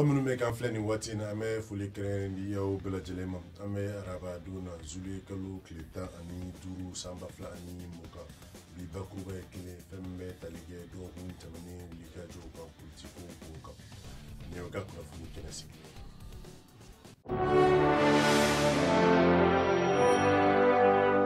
aw minnu bɛ k'an filɛ nin waati in na an bɛ foli kɛrɛn di aw bɛɛ lajɛlen ma an bɛ araba don na zuliye kalo tile tan ani duuru san ba fila ani mugan bi bakuruba ye kelen fɛn min bɛ tali kɛ dɔgɔkun tɛmɛnen wulikajɔw kan politiko kow kan nin y'aw ka kunnafoni kɛnɛ sigi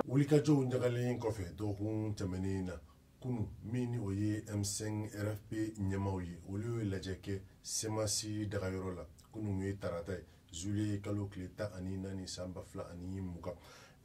wulikajɔw ɲagalen kɔfɛ dɔgɔkun tɛmɛnen na kunu min ni o ye m5 rfp ɲɛmaw ye olu ye lajɛ kɛ semasi dagayɔrɔ la kunu ye tarata ye zuliye kalo tile tan ani naani san ba fila ani mugan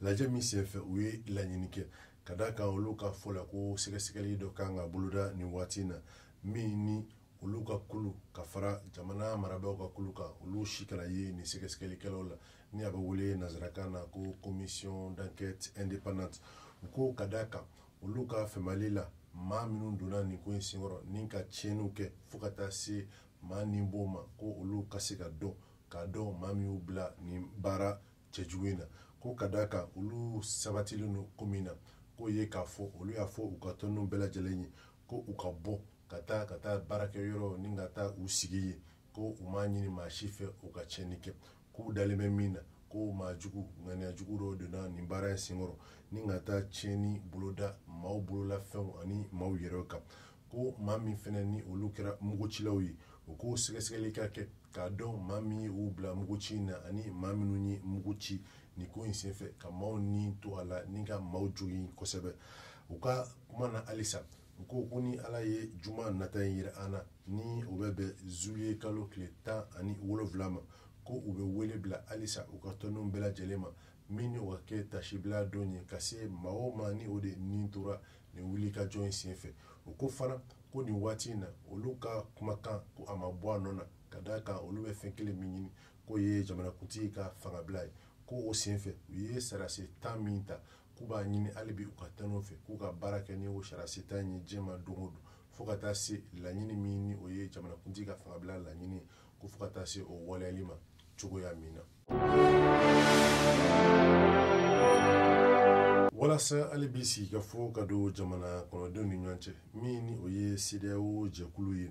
lajɛ min senfɛ u ye laɲini kɛ ka da kan olu ka fɔ la ko sɛgɛsɛgɛli dɔ kan ka boloda nin waati na min ni olu ka kulu ka fara jamana marabaaw ka kulu kan olu si kana ye nin sɛgɛsɛgɛlikɛlaw la ni a bɛ wele nanzarakan na ko commission d'enquête indépendante u ko ka da kan olu ka fɛmali la maa minnu donna nin ko in senkɔrɔ ni ka tiɲɛniw kɛ fo ka taa se maa ni bɔ ma ko olu ka se ka dɔn k'a dɔn maa min y'u bila nin baara cɛjugu in na ko ka d'a kan olu sabatilen don ko min na k'o ye k'a fɔ olu y'a fɔ u ka tɔndenw bɛɛ lajɛlen ye ko u ka bɔ ka taa baarakɛyɔrɔ ni ka taa u sigi ye ko u m'a ɲini maa si fɛ u ka tiɲɛni kɛ k'u dalen bɛ min na ko maa jugu ŋaniya jugu dɔw donna nin baara in senkɔrɔ ni ka taa tiɲɛni boloda maaw bolola fɛnw ani maaw yɛrɛ kan ko maa min fana ni olu kɛra mugucilaw ye u ko sɛgɛsɛgɛli ka kɛ k'a dɔn maa min ye u bila muguci in na ani maa minnu ye mugu ci nin ko in senfɛ ka maaw ni to a la ni ka maaw jogin kosɛbɛ u ka kuma na halisa u ko ko ni ala ye juma nata in yira an na ni o bɛ bɛn zuliye kalo tile tan ani wolonfila ma ko u bɛ wele bila halisa u ka tɔndenw bɛɛ lajɛlen ma min ni o ka kɛ tasibila don ye ka se maaw ma ni o de ni tora nin wulikajɔ in senfɛ u ko fana ko nin waati in na olu ka kumakan ko a ma bɔ a nɔ na ka d'a kan olu bɛ fɛn kelen min ɲini k'o ye jamanakuntigi ka fangabila ye ko o senfɛ u ye sarasi tan min ta k'u b'a ɲini hali bi u ka tɔndenw fɛ k'u ka baara kɛ ni o sarasi tan ye diɲɛ ma don o don fo ka taa se laɲini min ni o ye jamanakuntigi ka fangabila laɲini ye ko fo ka taa se o waleyali ma cogoya min na walasa hali bi sigikafɔ ka don jamana kɔnɔdenw ni ɲɔgɔn cɛ min ni o ye sedeyawo jɛkulu ye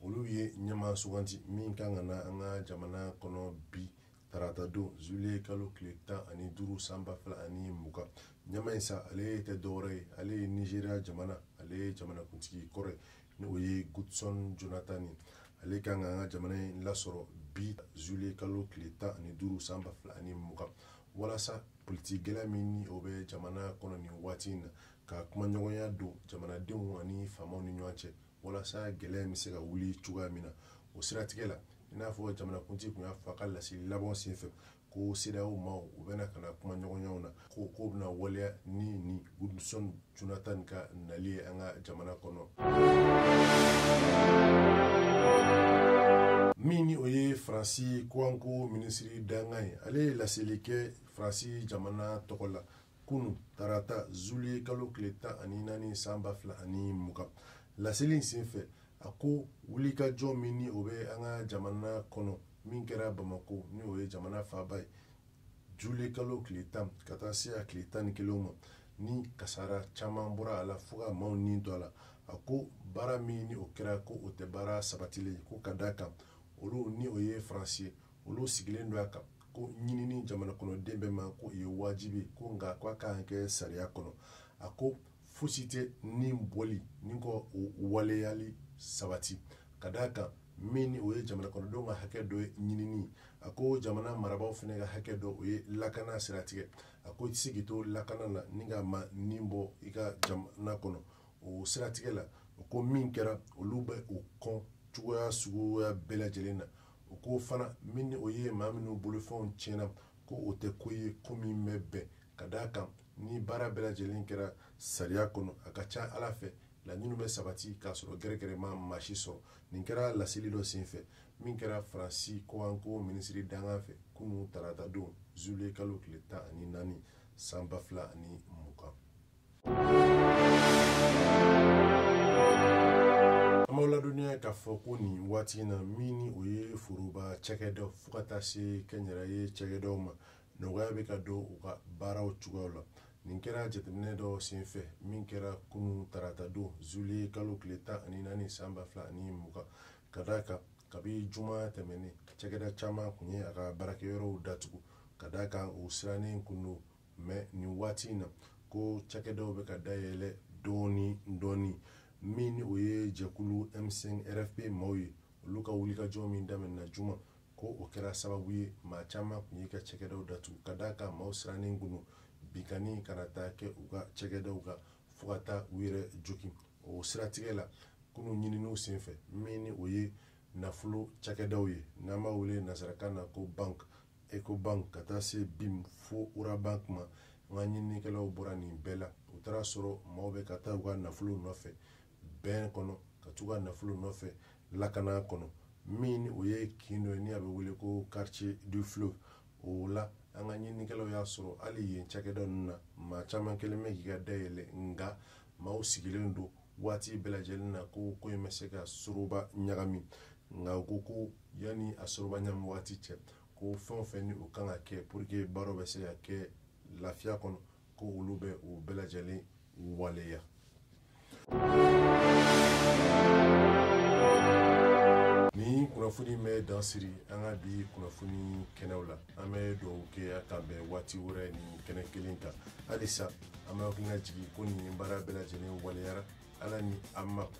olu ye ɲɛmaa suganti min kan ka na an ka jamana kɔnɔ bi tarata don zuliye kalo tile tan ani duuru san ba fila ani mugan ɲɛmaa in sa ale tɛ dɔwɛrɛ ye ale ye nizeriya jamana ale ye jamanakuntigi kɔrɔ ye ni o ye gudson jonathan ye ale kan ka an ka jamana in lasɔrɔ bi zuliye kalo tile tan ani duuru san ba fila ani mugan walasa politiki gɛlɛya min ni o bɛ jamana kɔnɔ nin waati in na ka kumaɲɔgɔnya don jamanadenw ani faamaw ni ɲɔgɔn cɛ walasa gɛlɛya bɛ se ka wuli cogoya min na o siratigɛ la i n'a fɔ jamanakuntigi tun y'a fɔ a ka laseli laban senfɛ ko cedeao maaw u bɛna ka na kumaɲɔgɔnyaw na ko ko bɛna waleya ni ni gudson jonathan ka nali ye an ka jamana kɔnɔ min ni o ye faransi kɔkanko minisiri dankan ye ale ye laseli kɛ faransi jamana tɔgɔ la kunu tarata zuliye kalo tile tan ani naani san ba fila ani mugan laseli in sen fɛ a ko wulikajɔ min ni o bɛ an ka jamana kɔnɔ min kɛra bamako ni o ye jamana faaba ye zuliye kalo tile tan ka taa se a tile tan ni kelen ma ni kasara caman bɔra a la fo ka maaw ni to a la a ko baara min ni o kɛra ko o tɛ baara sabatilen ko ka d'a kan olu ni o ye faransi ye olu sigilen don a kan ko ɲinini jamana kɔnɔden bɛɛ ma ko o ye wajibi ko nka ko a ka kan kɛ sariya kɔnɔ a ko fosi tɛ ni bɔli nin ko waleyali sabati ka d'a kan min ni o ye jamana kɔnɔdenw ka hakɛ dɔ ye ɲinini a ko jamana marabaaw fana ka hakɛ dɔ o ye lakana siratigɛ a ko i tɛ se k'i to lakana na ni ka maa ni bɔ i ka jamana kɔnɔ o siratigɛ la ko min kɛra olu bɛ o kɔn cogoya suguya bɛɛ lajɛlen na o ko fana min ni o ye maa minnu bolofɛnw tiɲɛna ko o tɛ ko ye ko min bɛ bɛn ka d'a kan ni baara bɛɛ lajɛlen kɛra sariya kɔnɔ a ka ca ala fɛ laɲiniw bɛ sabati k'a sɔrɔ gɛrɛgɛrɛ ma maa si sɔrɔ nin kɛra laseli dɔ senfɛ min kɛra faransi kɔkanko minisiri dankan fɛ kunu tarata don zuliye kalo tile tan ani naani san ba fila ani mugan an b'aw ladɔnniya k'a fɔ ko nin waati in na min ni o ye foroba cakɛda fo ka taa se kɛnyɛrɛye cakɛdaw ma nɔgɔya bɛ ka don u ka baaraw cogoyaw la nin kɛra jateminɛ dɔ senfɛ min kɛra kunu tarata don zuliye kalo tile tan ani naani san ba fila ani mugan ka d'a kan kabi juma tɛmɛnen cakɛda caman kun ye a ka baarakɛyɔrɔw datugu ka d'a kan u sirannen kun don mɛ nin waati in na ko cakɛdaw bɛ ka dayɛlɛ dɔɔni dɔɔni min ni o ye jɛkulu m5 rfp maaw ye olu ka wulikajɔ min daminɛna juma ko o kɛra sababu ye maa caman tun y'i ka cakɛdaw datugu ka d'a kan maaw sirannen kun don binkanni kana taa kɛ u ka cakɛdaw kan fo ka taa u yɛrɛ joki o siratigɛ la kunu ɲininiw senfɛ min ni o ye nafolo cakɛdaw ye n'an b'a wele nasarakan na ko bank ecobank ka taa se bim fo orabank ma an ka ɲininikɛlaw bɔra nin bɛɛ la u taara a sɔrɔ maaw bɛ ka taa u ka nafolo nɔfɛ bɛn kɔnɔ ka t'u ka nafolo nɔfɛ lakana kɔnɔ min o ye kin dɔ ye ni a bɛ wele ko quartier du fleuve o la an ka ɲininikɛlaw y'a sɔrɔ hali yen cakɛda ninnu na maa caman kɛlen bɛ k'i ka dayɛlɛ nka maaw sigilen don waati bɛɛ lajɛlen na ko ko in bɛ se ka soroba ɲagami nka u ko ko yanni a soroba ɲami waati cɛ ko fɛn o fɛn ni o kan ka kɛ pour que baaraw bɛ se ka kɛ lafiya kɔnɔ ko olu bɛ o bɛɛ lajɛlen waleya nin kunnafoni bɛ dan siri an ka bi kunnafoni kɛnɛw la an bɛ dugawu kɛ an ka bɛn waati wɛrɛ nin kɛnɛ kelen kan halisa an bɛ hakili lajigin ko nin baara bɛɛ lajɛlen waleyara ala ni an ma